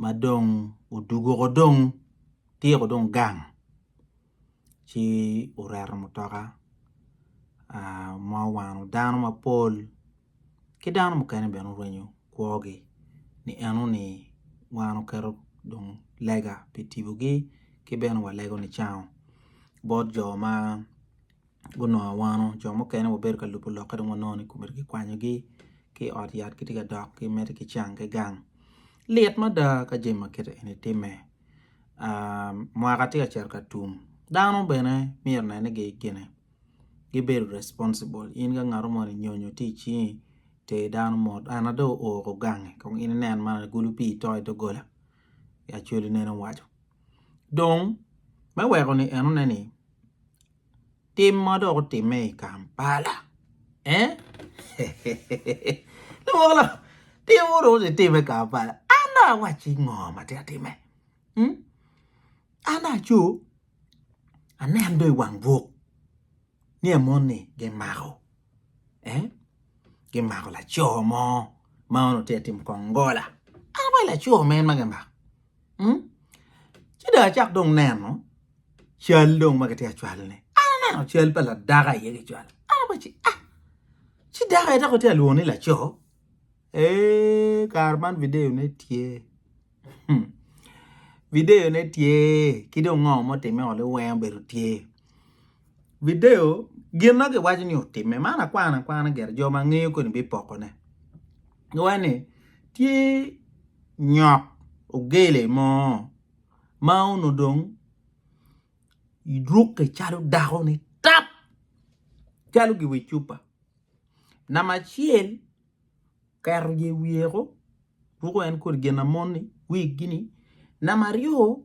ma dong oduguko dong tyeko dong gang ci oreto mutoka ma owano dano mapol ki dano mukene bene orwenyo kwogi ni eno ni wan oketo dong lega pi tibogi ki bene walego nicango bot jo ma gunongo awano jo mukene wabedo ka lubo lokke dong wanongo ni komiti kikwanyogi ki i ot yat gitye ka dok ki medo ki cang ki gang lit mada ka jami ma kiti eni timme mwaka tye ka cito ka tum dano bene myero onen ni gine gibedo responsible in ka ngat moni nyonyo tye i cingi ter dano mot ena dong oo ko gangi kong in inen man agulu pii to i doggola Acholi nene owaco. Dong me weko ni enone ni tim ma dok otimme i Kampala lawala tim ma dong kitimme i Kampala an dong awacci ngo ma tye ka timme an dong aco aneno dong i wang buk ni amoni gimako gimako laco mo ma onongo tye ka timo kongola an awaco laco mo en ma gimako. Ci dong acako dong neno cal dong ma kitye ka cwalone, an aneno cal pa ladako aye kicwalo, an awaco ni ah, ci dako aye dok kitye ka lwongo ni laco, eeh kare man videyone tye, videyone tye ki dong ngo ma otimme-ni weng obedo tye. video gin ma giwaco ni otimme man akwano akwana gire jo ma ngeyo koni bipokone giwaco ni tye nyok ogele mo ma onongo dong rukke calo dako ni tap calo gi wi cupa namba acel oketo yer wiye woko ruko en kodi gin ma moni wig gi ni namba aryo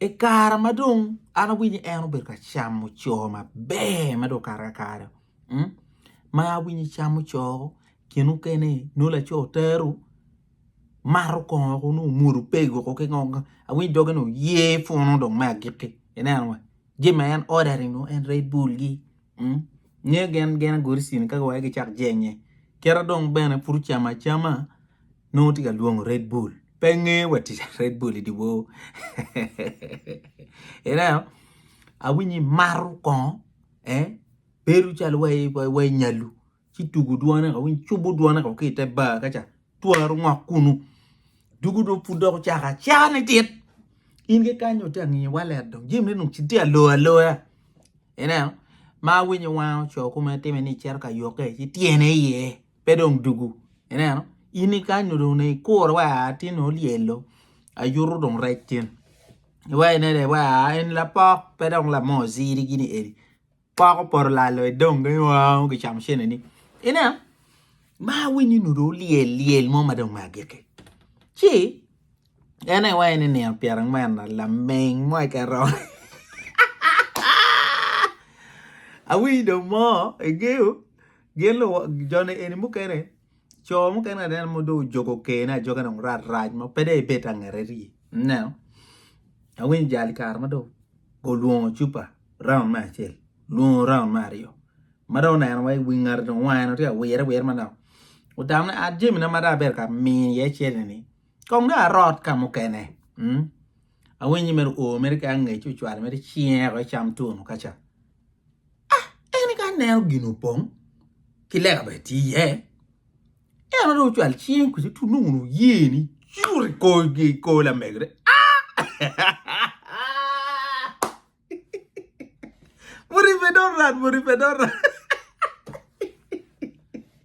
I kare ma dong an awinyo ni en obedo ka camo co maber ma dong okato kakare ma awinyo camo co gin mukene nongo laco otero mato kongo woko nongo omwodo pego woko ki ngo awiny doge ni oye punu dong me agikki ineno wa Jami ma en order-ri nongo en red bull gi nge gin gin agoti cini ka wai gicak jenye kita dong bene pud ocamo acama nongo tye ka lwongo red bull pe nge wa tic red bull idye bor ineno awinyo imato kongo bedo calo wa inyalu. ci tugu dwone ka winy cubu dwone ka ki ite bar kaca twaro ngok kunu dugu dong pud dok ocako acaka ni tit in ki kany dong tye angi wallet dong jami ne dong tye alo aloya ineno ma awiny wango co kome time ni cito ka yokke ci tyene iye pe dong dugu ineno in ki kany dong onongo ikure wa aa tin dong olyelo ayuto dong rec tin iwacone dong wa aa en lapok pe dong lame oziri gini eni. Pok opoto lalo i dong gin oo gicamo cene ni. Ine ma awinyo ni dong olyel lyel mo ma dong me agikki. Ci en aye iwaci ni nino pyera angwen lameng mo i kero. Awinyo dong mo i geo gin luwo joni eni mukene co mukene anena ma dong ojogo kene ajoga dong rat rac ma pe dong ibed angete ri ineno awinyo jali kare ma dong olwongo cupa raun me acel lwongo raun me aryo ma dong oneno wa iwi ngati dong wange dong tye ka wire awira manok otamone at jamina ma dong abedo ka mino iye cente-ni kong dong arot ka mukene awiny ni mere o mere ki angec ocwalo mere cinge wek ecam twon-nu ka ca. Ah, en ka neno gin opong ki lega bene tye iye. En dong ocwal cing kwede tu nongo oye ni cur i kor i kor lamegere. Ah! Muripe dong rat, muripe dong rat.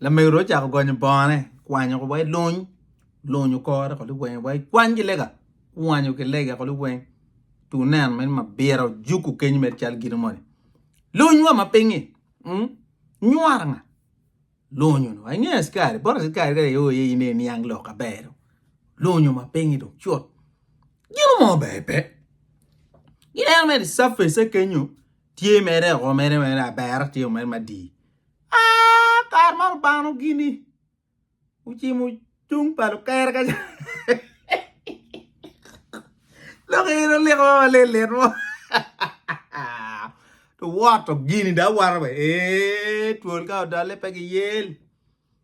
Lamego-ru ocako gonyo bongone, kwanyo wa i luny, luny okore woko liweng wa i kwany ki lega, kwanyo ki lega woko liweng, tu neno meno mabira ojuku kenyo mere calo gino moni, luny wa ma pingi, nywara nga? Luny wa inge askari, bot askari ka i o iye in aye iniang lok ka ber-ru, luny ma pingi dong cut, gino mo ber pe, ineno mere i surface-ce kenyo tye mere o mere abera tye o mere madii. Aa, kare ma Lubanga nogini ocimo cung pa lukere ka lok en oleko ma malelit mo to woto gini da wato be ee twol ka odole pe giyel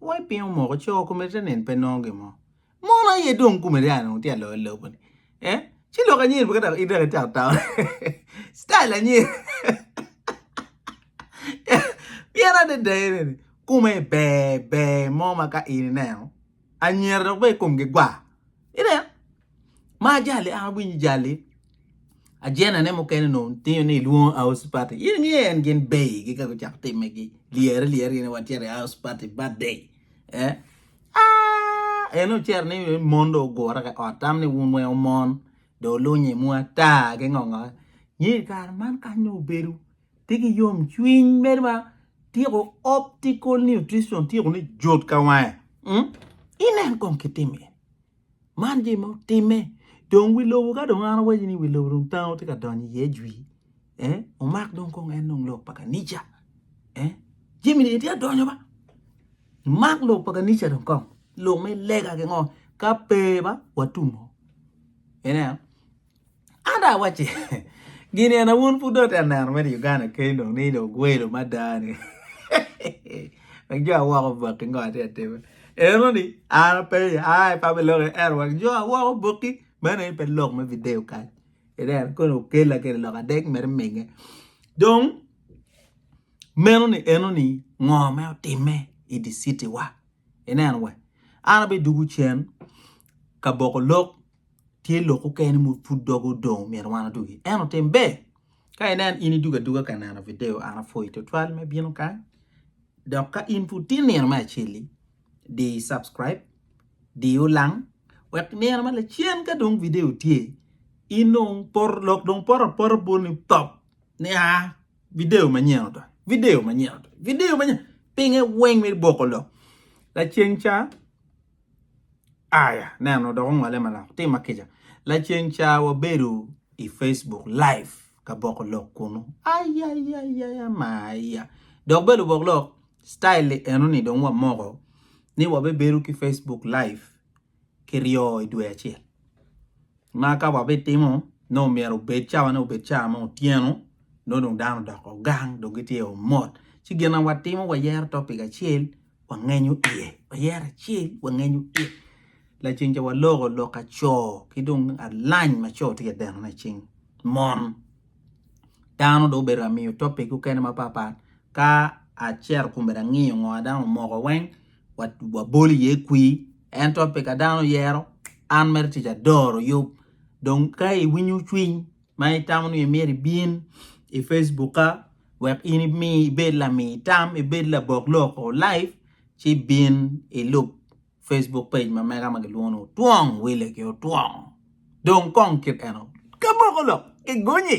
Wai piny omoko coo komedde te nen pe nongo gin mo mono aye dong komedde a dong tye aloyo alobo ni eh ci lok anyir pe kadok idok i town town style anyir pien adada ene ni kome ber ber mo ma ka in ineno anyira dok bene komgi gwa ineno. Ma ajali an awinyo jali ajena ne mukene no tinyo ni luongo house party in ngi en gin bay gi ka gucak time gi liere liere gini wa chere house party birthday eh ah en ocer ni mon do ogura ka ot tam ni wun weng omon do lunye mu ata ki ngongo ni kare man kany no obedo ti ki yom cwiny medo ma tiko optical nutrition tiko ni jot ka wange inen kong kitime Man gin ma otimme dong wi lobo ka dong an awaco ni wi lobo dong tango tye ka donyo iye jwi omak dong kong en dong lok pa kanica jami-ni dong tye ka donyo ba imak lok pa kanica dong kong lok me lega ki ngo ka pe ba watum oo ineno. An dong awacci gin eni wun pud dong itye ka neno mere i Uganda keni dong ni dong ogwelo mada ni wek jo awoko obaki ngo atye ka timo enoni an apenyo ai pe aloko i ero wek jo awoko oboki meno aye pe lok me video kany ineno kong okela kede lok adek mere imege dong meno ni enoni ngo ma otime i di citi wa ineno wa an abidugu cen ka boko lok tye lok mukene ma pud doge odong omyero wan odugi ento tim ber ka inen in idugo aduga ka neno video an apwoyi twatwal me bino kany dok ka in pud tye nino me acel-li di subscribe di olang wek nino ma lacen ka dong video tye in dong pot lok dong pot apota bwonni top ni a video manyen odonyo video manyen odonyo video manyen pinge weng wek iboko lok laceng ca Aya, neno, dok ongole manok. Tim ma kica. Laceng ca wabedo i Facebook live ka boko lok kunu. Ayayayaya maya. Dok belo bok lok, style li eno ni dong wamoko ni wabebedo ki Facebook live ki ryo i dwe acel. Ma ka wabitimo, no myero obed cawane obed ca ma otyeno, no dong dano odoko gang, dong gitye omot. Ci gin na watimo wayero topic acel, wangenyo iye, wayero acel wangenyo iye. Laceng ca waloko lok aco ki dong alany ma co tye ka deno laceng mon. Dano dong obedo amiyo topic mukene mapatpat ka acito kun bene angiyo ngo dano omoko weng wabolo iye kwi en topic ma dano oyero an mere tic adoro yub dong ka iwinyo cwiny ma itamo ni myero ibin i Facebookka wek in ibed lami tam, ibed labok loko laib ci bin ilub Facebook page ma mega ma kilwongo ni Otwong Wille ki Otwong dong kong kit eno kiboko lok kigonyi.